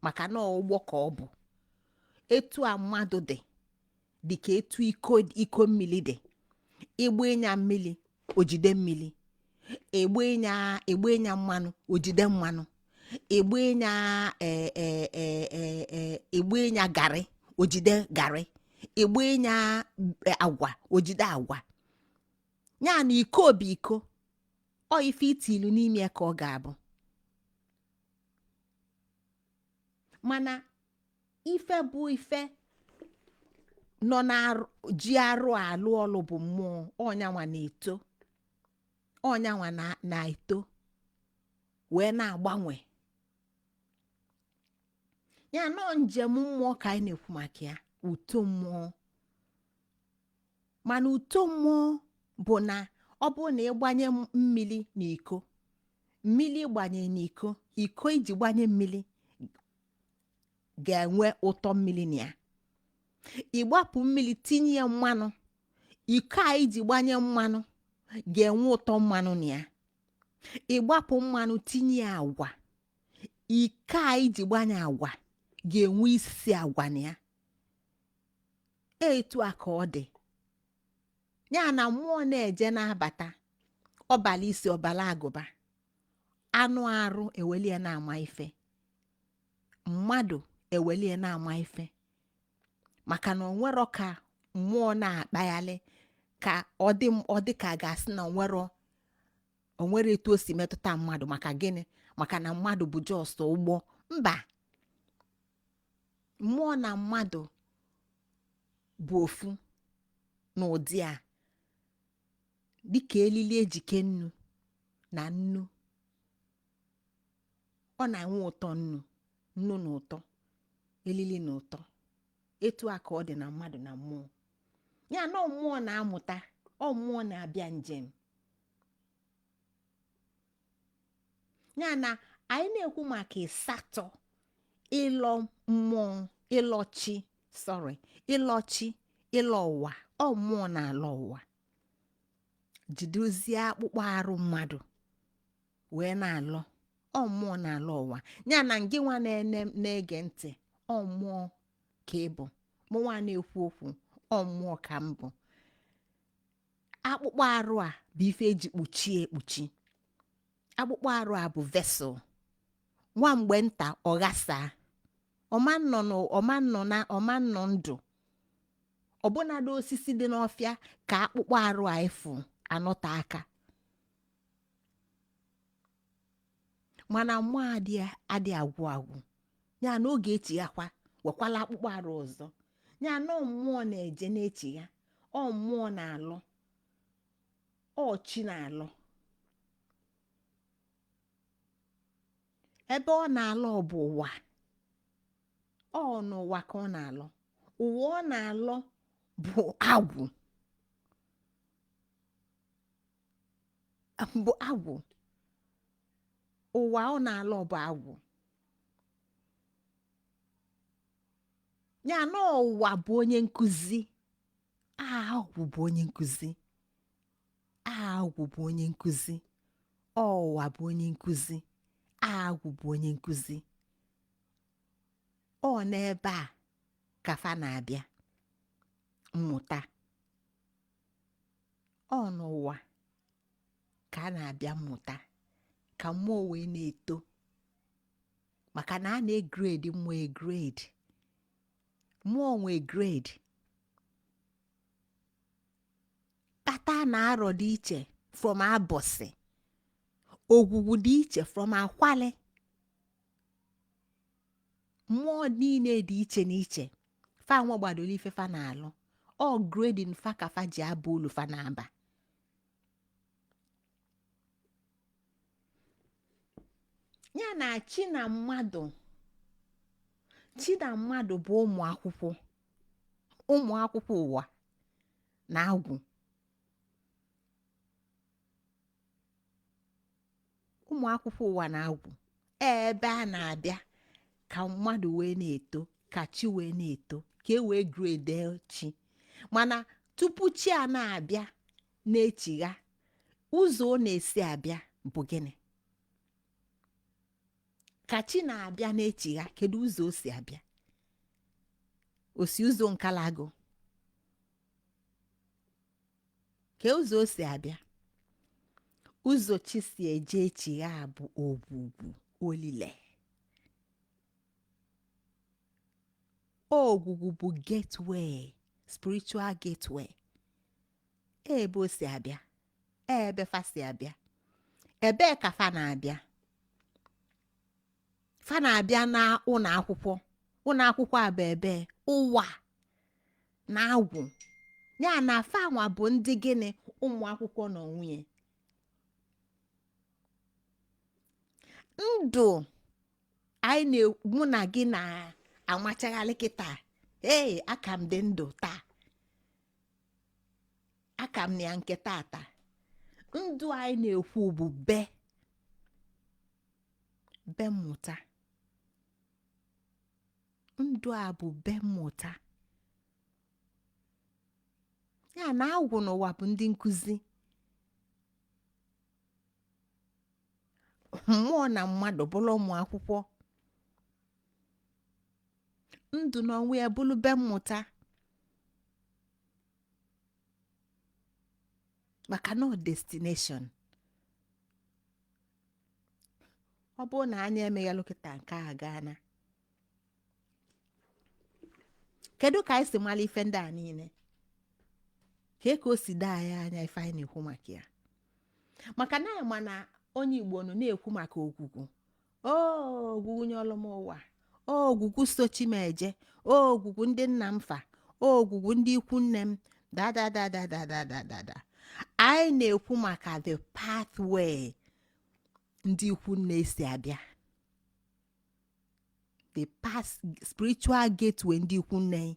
A: maka na ụgbọ ka ọ bụ etu a mmadụ dị dị ka etu iko iko mmiri dị ị gbanye ya mmiri o jide mmiri ị gbanye ya ị gbanye ya mmanụ o jide mmanụ ị gbanye ya eh, eh, eh, eh, eh, ị gbanye ya garị o jide garị ị gbanye ya eh, agwa o jide agwa ya na iko bụ iko ọ ife i tiilu n'ime ya ka ọ ga-abụ mana ife bụ ife nọ na-eji arụ alụ ọlụ bụ mmụọ ọ nyanwa na-eto ọ nyanwa na-eto wee na-agbanwe ya na ọ njem mmụọ ka anyị na-ekwu maka ya uto mmụọ mana uto mmụọ bụ na ọ bụrụ na ị gbanye mmiri n'iko mmiri gbanye n'iko iko i ji gbanye mmiri ga-enwe ụtọ mmiri na ya ị gbapụ mmiri tinye ya mmanụ iko a i ji gbanye mmanụ ga-enwe ụtọ mmanụ na ya ị gbapụ mmanụ tinye ya agwa iko a i ji gbanye agwa ga-enwe isi agwa na ya etu a ka ọ dị ya na mmụọ na-eje na-abata ọ bala isi ọ bala agụba anụ arụ ewelie na-ama ife mmadụ ewelie na-ama ife maka na o nwero ka mmụọ na-akpaghalị ka ọ dị m- ọ dị ka a ga-asị na o nwero o nwere etu o si metụta mmadụ maka gịnị maka na mmadụ bụ just ụgbọ mba mmụọ na mmadụ bụ ofu n'ụdị a dịka elili e ji kee nnu na nnu ọ na-enwe ụtọ nnu nnu na ụtọ elili na ụtọ etu a ka ọ dị na mmadụ na mmụọ ya na ọ mmụọ na-amụta ọ mmụọ na-abịa njem ya na anyị na-ekwu maka ịsatọ ịlọ mmụọ ịlọchi sorry ịlọchi ịlọ ụwa ọ mmụọ na-alọ ụwa jidezie akpụkpọ arụ mmadụ wee na-alọ ọ mmụọ na-alọ ụwa ya na ngị nwa na-ege ntị ọ mmụọ ka ị bụ mụ nwa na-ekwu okwu ọ mmụọ ka m bụ akpụkpọ arụ a bụ ife e ji kpuchie ekpuchi akpụkpọ arụ a bụ vessel nwa mgbe nta ọ ghasaa ọ ma-anọ ndụ ọbụnadị osisi dị n'ọfịa ka akpụkpọ arụ a ị fụ anọta aka mana mmụọ adị agwụ agwụ ya na ọ ga-echighakwa wekwala akpụkpọ arụ ọzọ ya na ọ mmụọ na-eje na-echigha ọ mmụọ na-alọ ọ chi na-alọ ebe ọ na-alọ bụ ụwa ọ n'ụwa ka ọ na-alọ ụwa ọ na-alọ bụ agwụ bụ agwụ ụwa ọ na-alọ bụ agwụ ya na ụwa bụ onye nkụzi agwụ bụ onye nkụzi agwụ bụ onye nkụzi ụwa bụ onye nkụzi agwụ bụ onye nkụzi ọ n'ebe a ka fa na-abịa mmụta ọ n'ụwa ka a na-abịa mmụta ka mmụọ wee na-eto maka na a na-egrade mmụọ egrade mmụọ nwe grade kpata na arọ dị iche from abọsị ogwugwu dị iche from akwali mmụọ niile dị iche n'iche fa nwegbadolu ife fa na-alụ ọ grading fa ka fa ji aba ulu fa na-aba ya na chi na mmadụ chi na mmadụ bụ ụmụ akwụkwọ ụmụ akwụkwọ ụwa na agwụ ụmụ akwụkwọ ụwa na agwụ ee ebe a na-abịa ka mmadụ wee na-eto ka chi wee na-eto ka e wee grade chi mana tupu chi a na-abịa na-echigha ụzọ ọ na-esi abịa bụ gịnị ka chi na-abịa na-echigha kedu ụzọ o si abịa o si ụzọ nkalago kee ụzọ o si abịa ụzọ chi si eje echigha bụ ogwugwu olile ogwugwu bụ gateway spiritual gateway ebe o si abịa ebe fa si abịa ebee ka fa na-abịa fa na-abịa na ụlọ akwụkwọ ụlọ akwụkwọ a bụ ebe ụwa na agwụ ya na fanwa bụ ndị gịnị ụmụ akwụkwọ n'onwe ya ndụ anyị na mụ na gị na-amachagharị kịta ee aka m dị ndụ taa aka m na ya nke tata ndụ anyị na-ekwu bụ be be mmụta ndụ a bụ be mmụta ya na agwụ na ụwa bụ ndị nkụzi mmụọ na mmadụ bụrụ ụmụ akwụkwọ ndụ n'onwe ya bụrụ be mmụta maka no destination ọ bụrụ na anyị emeghelụ kịta nke a gaa na kedu ka anyị si mara ife ndị a niile ka ka o si daa anyị anya ife anyị na-ekwu maka ya maka na anyị ma na onye igbo nọ na-ekwu maka ogwugwu o ogwugwu nyelụ m ụwa ogwugwu so chi m eje ogwugwu ndị nna m fa ogwugwu ndị ikwu nne m dadadadadadadada anyị na-ekwu maka the pathway ndị ikwu nne si abịa the past spiritual gateway ndị ikwu nne anyị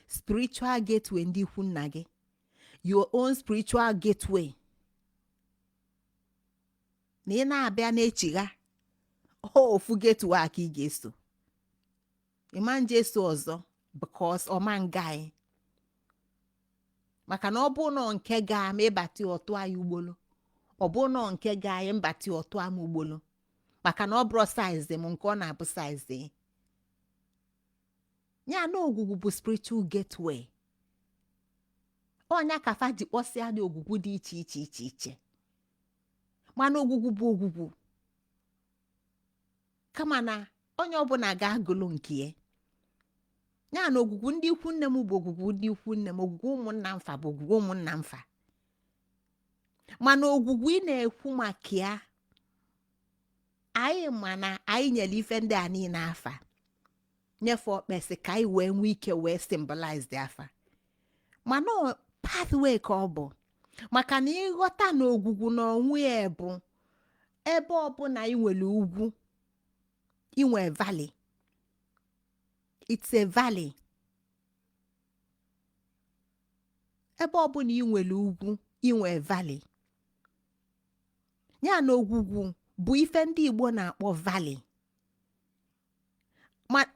A: spiritual gateway ndị ikwu nna gị your own spiritual gateway na ị na-abịa na-echigha ọ ofu gateway a ka ị ga-eso ị ma-eje eso ọzọ because ọma nga anyị maka na ọ bụ nọ nke ga ma ịbata ọtụ anyị ugbolo ọ bụ nọ nke ga anyị mbata ọtụ ama ugbolo maka na ọ bụrọ size m nke ọ na-abụ size ị. ya na ogwugwu bụ spiritual gateway ọ nya ka fa ji kpọsịa na ogwugwu dị iche iche iche iche mana ogwugwu bụ ogwugwu kama na onye ọbụla ga-agụlụ nke ya ya na ogwugwu ndị ikwu nne m bụ ogwugwu ndị ikwu nne m ogwugwu ụmụnna m fa bụ ogwugwu ụmụnna m fa mana ogwugwu ị na-ekwu maka ya anyị ma na anyị nyere ife ndị a niile afa nye fa okpesi ka anyị wee nwee ike wee symbolize the afa mana ọ pathway ka ọ bụ maka na ị ghọta na ogwugwu na onwe ya bụ ebe ọbụla i nwere ugwu i nwee valley it's a valley ebe ọbụla i nwere ugwu i nwee valley ya na ogwugwu bụ ife ndị igbo na-akpọ valley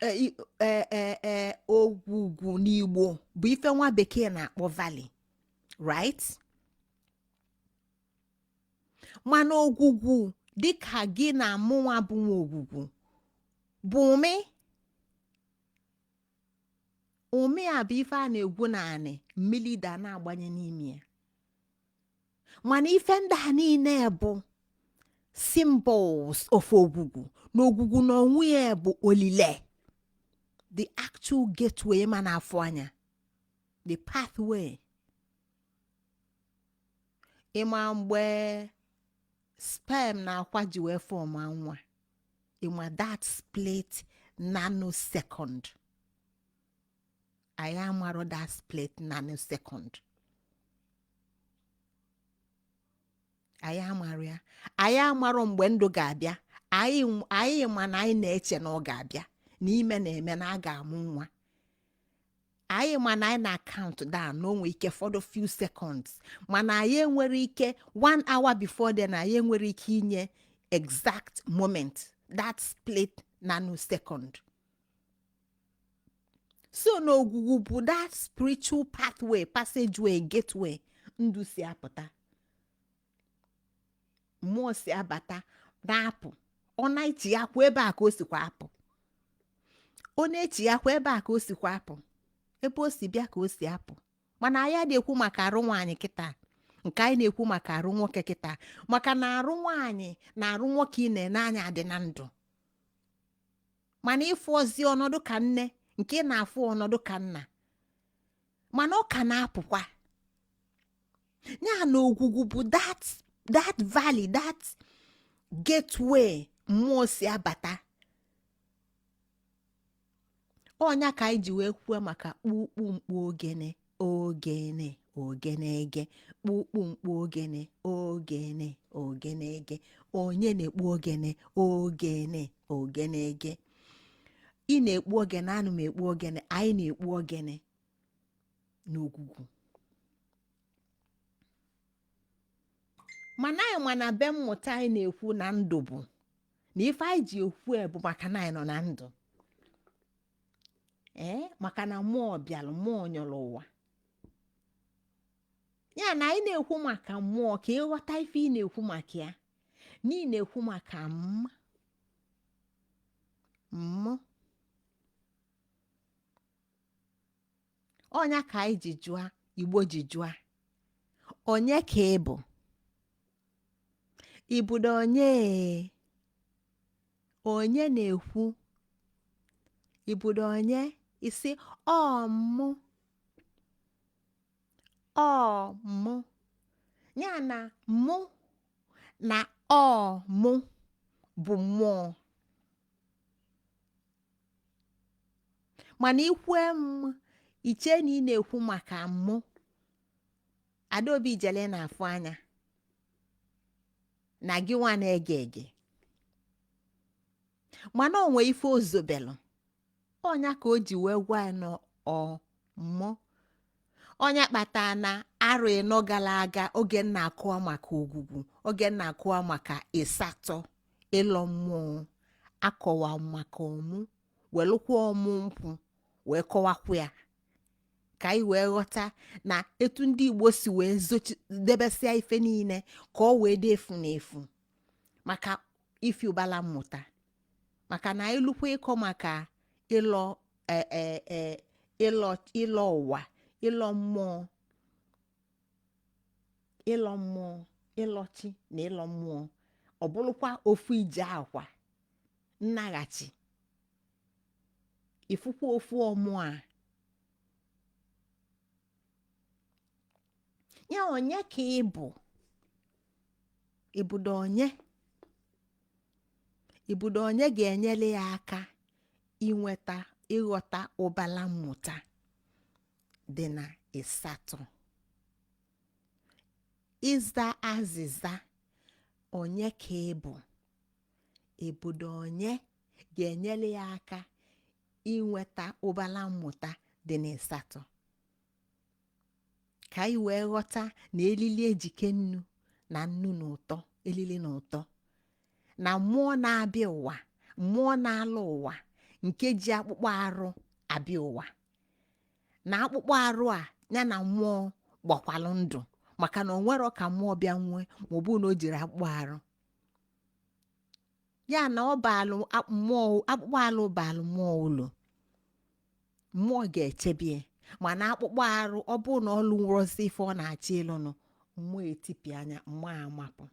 A: e, e, e, ogwugwu n'igbo bụ ife nwa bekee na-akpọ valley right mana ogwugwu dịka gị na mụnwa bụ nwa ogwugwu bụ umi umi a bụ ife a na-egwu n'anị mmiri da na-agbanye n'ime ya mana ife ndị a niile bụ symbols of ogwugwu na ogwugwu na onwe ya bụ olile the actual gateway ị ma na-afụ anya the pathway ị ma mgbe sperm na akwa ji wee form nwa ị ma that split nanosecond anyị amarọ that split nanosecond anyị amarọ ya anyị amarọ mgbe ndụ ga-abịa anyị anyị ma na anyị na-eche na ọ ga-abịa na ime na-eme na a ga-amụ nwa anyị ma na anyị na-acount down na o nwe ike fọdụ few seconds mana anyị enwerọ ike one hour before then anyị enwerọ ike inye exact moment that split nanosecond so na ogwugwu bụ that spiritual pathway passageway gateway ndụ si apụta mmụọ si abata na-apụ ọ na-echiyakwa ebe a ka o sikwa apụ ọ na-echiyakwa ebe a ka o sikwa apụ ebe o si bịa ka o si apụ mana anyị na-ekwu maka arụ nwaanyị kịta nke anyị na-ekwu maka arụ nwoke kịta maka na arụ nwaanyị na arụ nwoke ị na-ene anya dị na ndụ mana ị fụrọzi ọnọdụ ka nne nke ị na-afụ ọnọdụ ka nna mana ọ ka na-apụkwa ya na ogwugwu bụ that that valley that gateway mmụọ si abata ọ nya ka anyị ji wee kwuo maka kpukpu mkpu ogene ogene ogene ege kpukpu mkpu ogene ogene ogene ege onye na-ekpu ogene ogene ogene ege ị na-ekpu ogene ana m ekpu ogene anyị na-ekpu ogene n'ogwugwu mana anyị ma na be mmụta anyị na-ekwu na ndụ bụ na ife anyị ji ekwu e bụ maka na anyị nọ na ndụ ee maka na mmụọ bịara mmụọ nyọrọ ụwa ya na anyị na-ekwu maka mmụọ ka ị ghọta ife ị na-ekwu maka ya na ị na-ekwu maka mma mmụ ọ nya ka anyị ji jụa igbo ji jụa onye ka ị bụ ị bụdo onye onye na-ekwu ị bụdo onye ị sị ọ mụ ọ mụ ya na mụ na ọ mụ bụ mmụọ mana i kwue i chee na ị na-ekwu maka mụ adaobi ijele na-afụ anya na gị nwa na-ege ege mana o nwe ife o zobelụ ọ nya ka o ji wee gwa ya na ọ mụ ọ nya kpata na arọ ịnọ gara aga oge m na-akọwa maka ogwugwu oge m na-akọwa maka ịsatọ ịlọ mmụọ akọwa maka ọmụ welụkwa ọmụ nkwụ wee kọwakwa ya ka anyị wee ghọta na etu ndị igbo si wee zochi debesịa ife niile ka ọ wee dị efu na efu maka ifi ụbala mmụta maka na i lukwa ịkọ maka ịlọ e- e- e- ịlọ ịlọ ụwa ịlọ mmụọ ịlọ mmụọ ịlọ chi na ịlọ mmụọ ọ bụrụkwa ofu ije akwa nnaghachi ị fụkwa ofu ọmụ a ya onye ka ị bụ ị bụdo onye ị bụdo onye ga-enyere ya aka inweta ịghọta ụbala mmụta dị na ịsatọ ịza azịza onye ka ị bụ ị bụdo onye ga-enyere ya aka inweta ụbala mmụta dị na ịsatọ ka anyị wee ghọta na elili ejike nnu na nnu na ụtọ elili na ụtọ na mmụọ na-abịa ụwa mmụọ na-alọ ụwa nke ji akpụkpọ arụ abịa ụwa na akpụkpọ arụ a ya na mmụọ gbakwalụ ndụ maka na o nwerọ ka mmụọ bịa nwee ma ọ bụ na o jiri akpụkpọ arụ ya na ọ baalụ a- mmụọ akpụkpọ arụ baalụ mmụọ ulu mmụọ ga-echebie mana akpụkpọ arụ ọ bụrụ na ọ lụrọzi ife ọ na-achọ ịlụnụ mmụọ etipịa nya mmụọ amapụ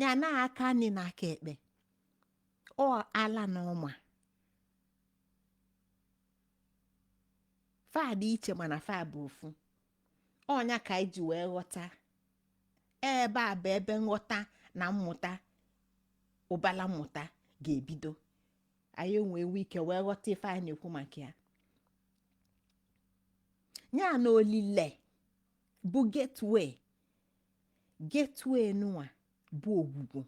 A: ya na aka nni na aka ekpe ọ ala na ọma fa dị iche mana fa bụ ofu ọnya ka anyị ji wee ghọta ebe a bụ ebe nghọta na mmụta ụbala mmụta ga-ebido anyị wee nwee ike wee ghọta ife anyị na-ekwu maka ya ya na olile bụ gateway gateway nụwa bụ ogwugwu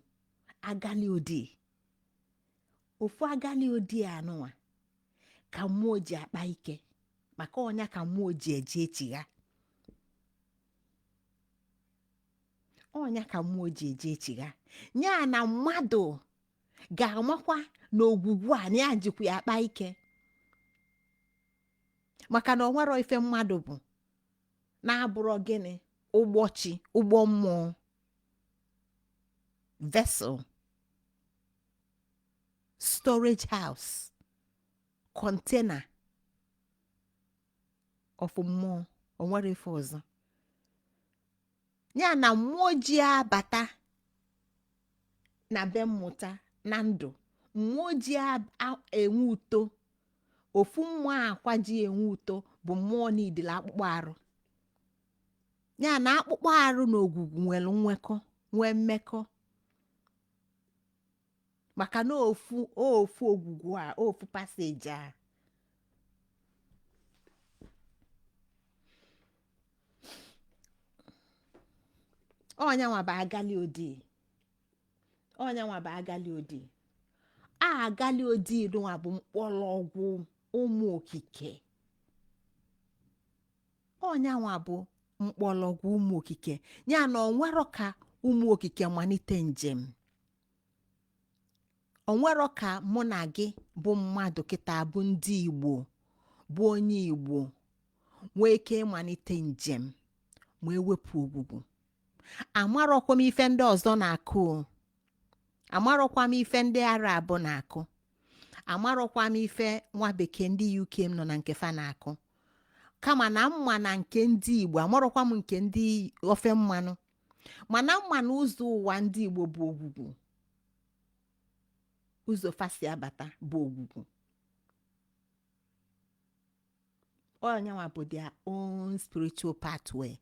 A: agali odi ofu agali odi a nụwa ka mmụọ ji akpa ike maka ọnya ka mmụọ ji eje echigha ọnya ka mmụọ ji eje echigha ya na mmadụ ga-amakwa na ogwugwu a na ya jikwa ya akpa ike maka na o nwerọ ife mmadụ bụ na-abụrọ gịnị ụgbọ chi ụgbọ mmụọ vessel storage house container of mmụọ o nwerọ ife ọzọ ya na mmụọ ji abata na be mmụta na ndụ mmụọ ji a- a- enwe uto ofu mmụọ akwa ji enwe uto bụ mmụọ na idile akpụkpọ arụ ya na akpụkpọ arụ na ogwugwu nwere nwekọ nwee mmekọ maka na ofu ofu ogwugwu a ofu passage a ọnyanwa bụ agali odi ọnyanwa bụ agali odi a agali odi nwa bụ mkpọrọgwụ ụmụ okike ọnyanwa bụ mkpọrọgwụ ụmụ okike ya na o nwerọ ka ụmụ okike malite njem o nwero ka mụ na gị bụ mmadụ kịta bụ ndị igbo bụ onye igbo nwee ike ịmalite njem ma ewepụ ogwugwu amarọkwa m ife ndị ọzọ na-akụ o. amarọkwa m ife ndị arab na-akụ amarọkwa m ife nwa bekee ndị uk m nọ na nke fa na-akụ kama na m ma na nke ndị igbo amarọkwa m nke ndị ofe mmanụ mana m ma na ụzọ ụwa ndị igbo bụ ogwugwu ụzọ fa si abata bụ ogwugwu ọ nyanwa bụ their own spiritual pathway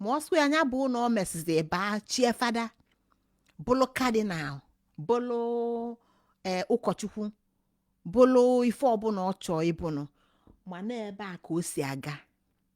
A: ma ọ sọ ya nya bụ na ọ mesizi baa chie fada bụlụ kadinal bụlụ ee ụkọchukwu bụlụ ife ọbụla ọ chọọ ịbụnụ mana ebe a ka o si aga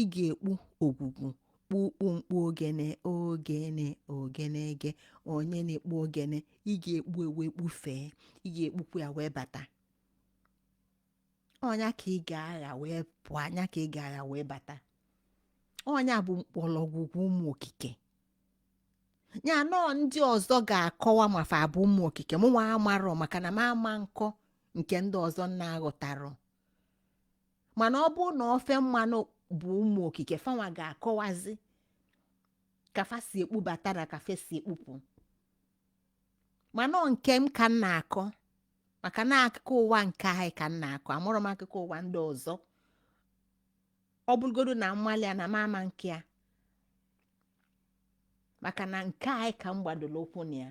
A: ị ga-ekpu ogwugwu kpukpu mkpu ogene ogene ogene ege onye na-ekpu ogene ị ga-ekpu ya wee kpufee ị ga-ekpukwu ya wee bata ọ nya ka ị ga-aga wee pụọ ọ nya ka ị ga-aga wee bata ọ nya bụ mkpọrọgwụ ụmụ okike ya na ọ ndị ọzọ ga-akọwa ma fa bụ ụmụ okike mụnwa amarọ maka na m ama na-akọ nke ndị ọzọ na-aghọtarọ mana ọ bụrụ na ofe mmanụ bụ ụmụ okike fanwa ga-akọwazi ka fa si ekpubata na ka fa si ekpupụ mana ọ nke m ka m na-akọ maka na akụkọ ụwa nke anyị ka m na-akọ amụrọ m akụkọ ụwa ndị ọzọ ọ bụrụgodo na m malị ya na m ama na-akọ ya maka na nke anyị ka m gbadoro ụkwụ na ya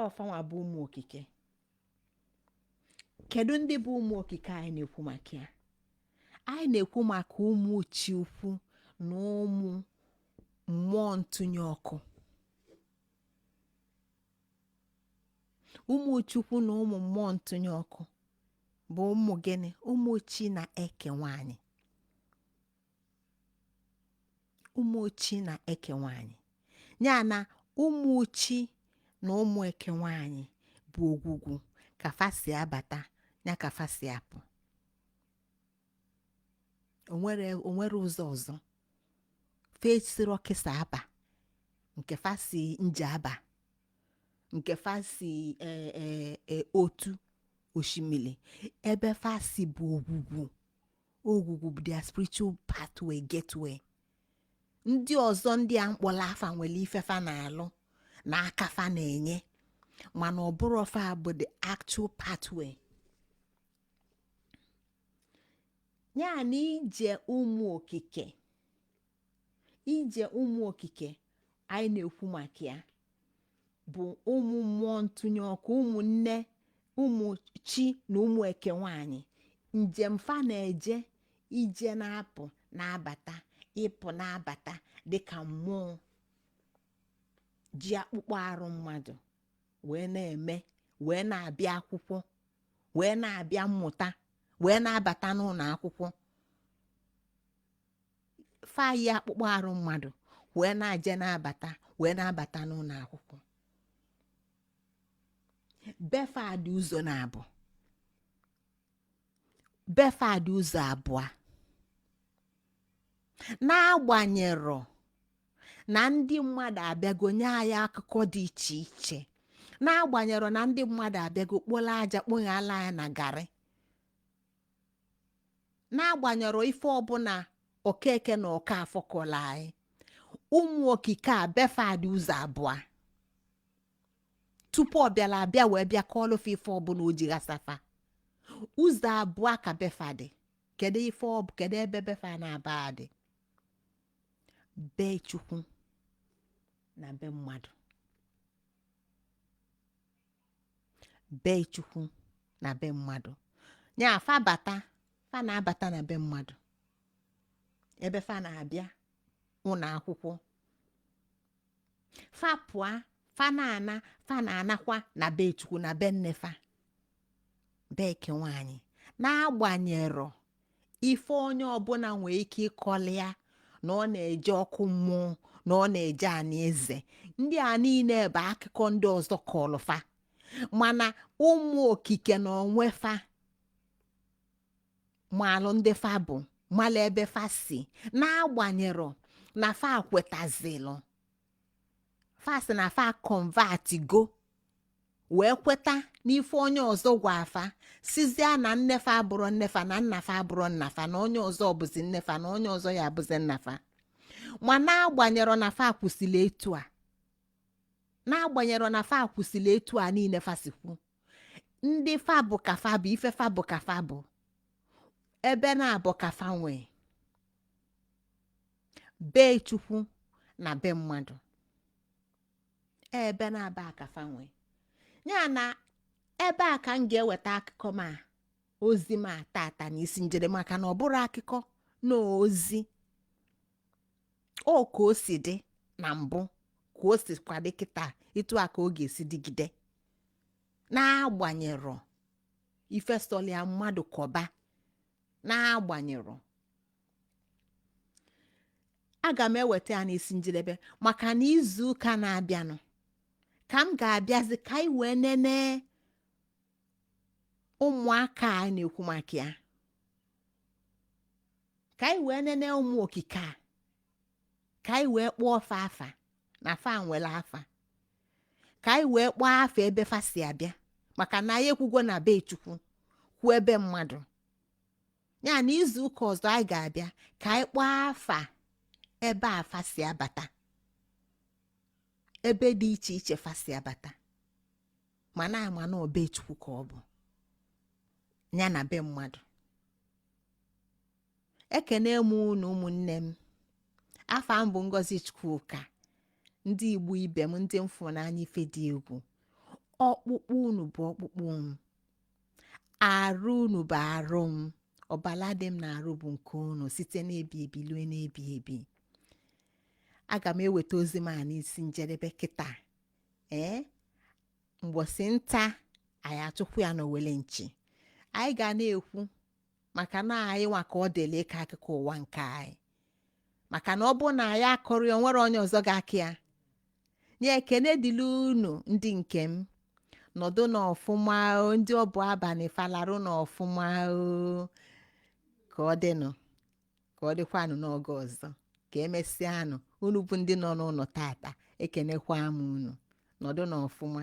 A: ọ fanwa bụ ụmụ okike kedu ndị bụ ụmụ okike anyị na-ekwu maka ya anyị na-ekwu maka ụmụ chi ukwu na ụmụ mmụọ ntụnye ọkụ ụmụ chukwu na ụmụ mmụọ ntụnye ọkụ bụ ụmụ gịnị ụmụ chi na eke nwanyị ụmụ chi na eke nwanyị ya na ụmụ chi na ụmụ eke nwanyị bụ ogwugwu ka fa si abata ya ka fa si apụ o nwero o nwero ụzọ ọzọ fa esirọ ọkịsa aba nke fa si njaba nke fa si eh, eh, eh, otu osimiri ebe fa si bụ ogwugwu ogwugwu bụ their spiritual pathway gateway ndị ọzọ ndị a m kpọrọ afa nwere ife fa na-alụ na aka fa na-enye mana ọ bụrọ fa bụ the actual pathway ya na ije ụmụ okike ije ụmụ okike anyị na-ekwu maka ya bụ ụmụ mmụọ ntụnye ọkụ ụmụ nne ụmụ chi na ụmụ eke nwanyị njem fa na-eje ije na-apụ na-abata ịpụ na-abata dịka mmụọ ji akpụkpọ arụ mmadụ wee na-eme wee na-abịa akwụkwọ wee na-abịa mmụta wee na-abata n'ụlọ akwụkwọ fa yi akpụkpọ arụ mmadụ wee na-aje na-abata wee na-abata n'ụlọ akwụkwọ befa dị ụzọ naabọ befa dị ụzọ abụọ n'agbanyerọ na ndị mmadụ abịago nye anyị akụkọ dị iche iche n'agbanyerọ na ndị mmadụ abịago kporo aja kponyelu anyị na garị n'agbanyerọ ife ọbụla okeke na okafọ kọlụ anyị ụmụ okike a befa dị ụzọ abụọ tupu ọ bịara abịa wee bịa kọọlụ fa ife ọbụla o ji ghasa fa ụzọ abụọ ka befa dị kedu ife ọ bụ kedu ebe befa naabọ a dị be chukwu na be mmadụ be chukwu na be mmadụ ya fa bata fa na-abata na be mmadụ ebe fa na-abịa ụlọ akwụkwọ fa pụa fa na-ana fa na-anakwa na be chukwu na be nne fa be eke nwaanyị n'agbanyerọ ife onye ọbụla nwee ike ịkọlụ ya na ọ na-eje ọkụ mmụọ na ọ na-eje anị eze ndị a niile bụ akụkọ ndị ọzọ kọlụ fa mana ụmụ okike na onwefa malụ ndị fa bụ malụ ebe fa si n'agbanyerọ na fa kwetazilụ fa sị na fa convertigo wee kweta n'ife onye ọzọ gwa fa sịzie na nnefa abụrọ nnefa na nnafa abụrọ nnafa na onye ọzọ bụzi nnefa na onye ọzọ ya abụzi nnafa ma n'agbanyerọ na fa kwusịrị etu a n'agbanyerọ na fa kwusịrị etu a niile fa sikwu ndị fa bụ ka fa bụ ife fa bụ ka fa bụ ebe naabọ ka fa nwee be chukwu na be mmadụ ebe naabọ a ka fa nwee ya na ebe a ka m ga-eweta akụkọ m a ozi m a tata na isi njedebe maka na ọ bụrọ akụkọ na ozi ọ ka o si dị na mbụ ka o sikwa dị kịta etu a ka ọ ga-esi dịgide n'agbanyerọ ife sọlụ ya mmadụ kọba n'agbanyerọ aga m eweta ya n'isi njedebe maka na izu ụka na-abịanụ ka m ga-abịazi ka anyị wee nene ụmụaka a na-ekwu maka ya ka anyị wee nene ụmụ okike a ka anyị wee kpọọ fa afa na fa nwere afa ka anyị wee kpọọ afa ebe fa si abịa maka na anyị ekwugo na be chukwu kwuo ebe mmadụ ya na izu ụka ọzọ anyị ga-abịa ka anyị kpọọ afa ebe fa si abata ebe dị iche iche fa si abata ma na ama na ọ be chukwu ka ọ bụ ya na be mmadụ ekene m unu ụmụnne m afa m bụ ngozi chukwuka ndị igbo ibe m ndị m fụrụ n'anya ife dị egwu ọkpụkpụ unu bụ ọkpụkpụ m arụ unu bụ arụ m ọbala dị m n'arụ bụ nke unu site n'ebi ebi lue n'ebi ebi aga m eweta ozi m a n'isi njedebe kịta ee mbọsị nta anyị achụkwu ya n'owele nchi anyị ga na-ekwu maka na anyị nwa ka ọ dịla ịkọ akụkọ ụwa nke anyị maka na ọ bụrụ na anyị akọrọ ya o nwerọ onye ọzọ ga-akọ ya nye ekene dịla unu ndị nke m nọdụ n'ọfụma o, ndị ọ bụ abalị fa larụ n'ọfụma o ka ọ dịnụ ka ọ dịkwanụ n'oge ọzọ ka emesịanụ unu bụ ndị nọ n'ụlọ tata ekenekwa m unu nọdụ n'ọfụma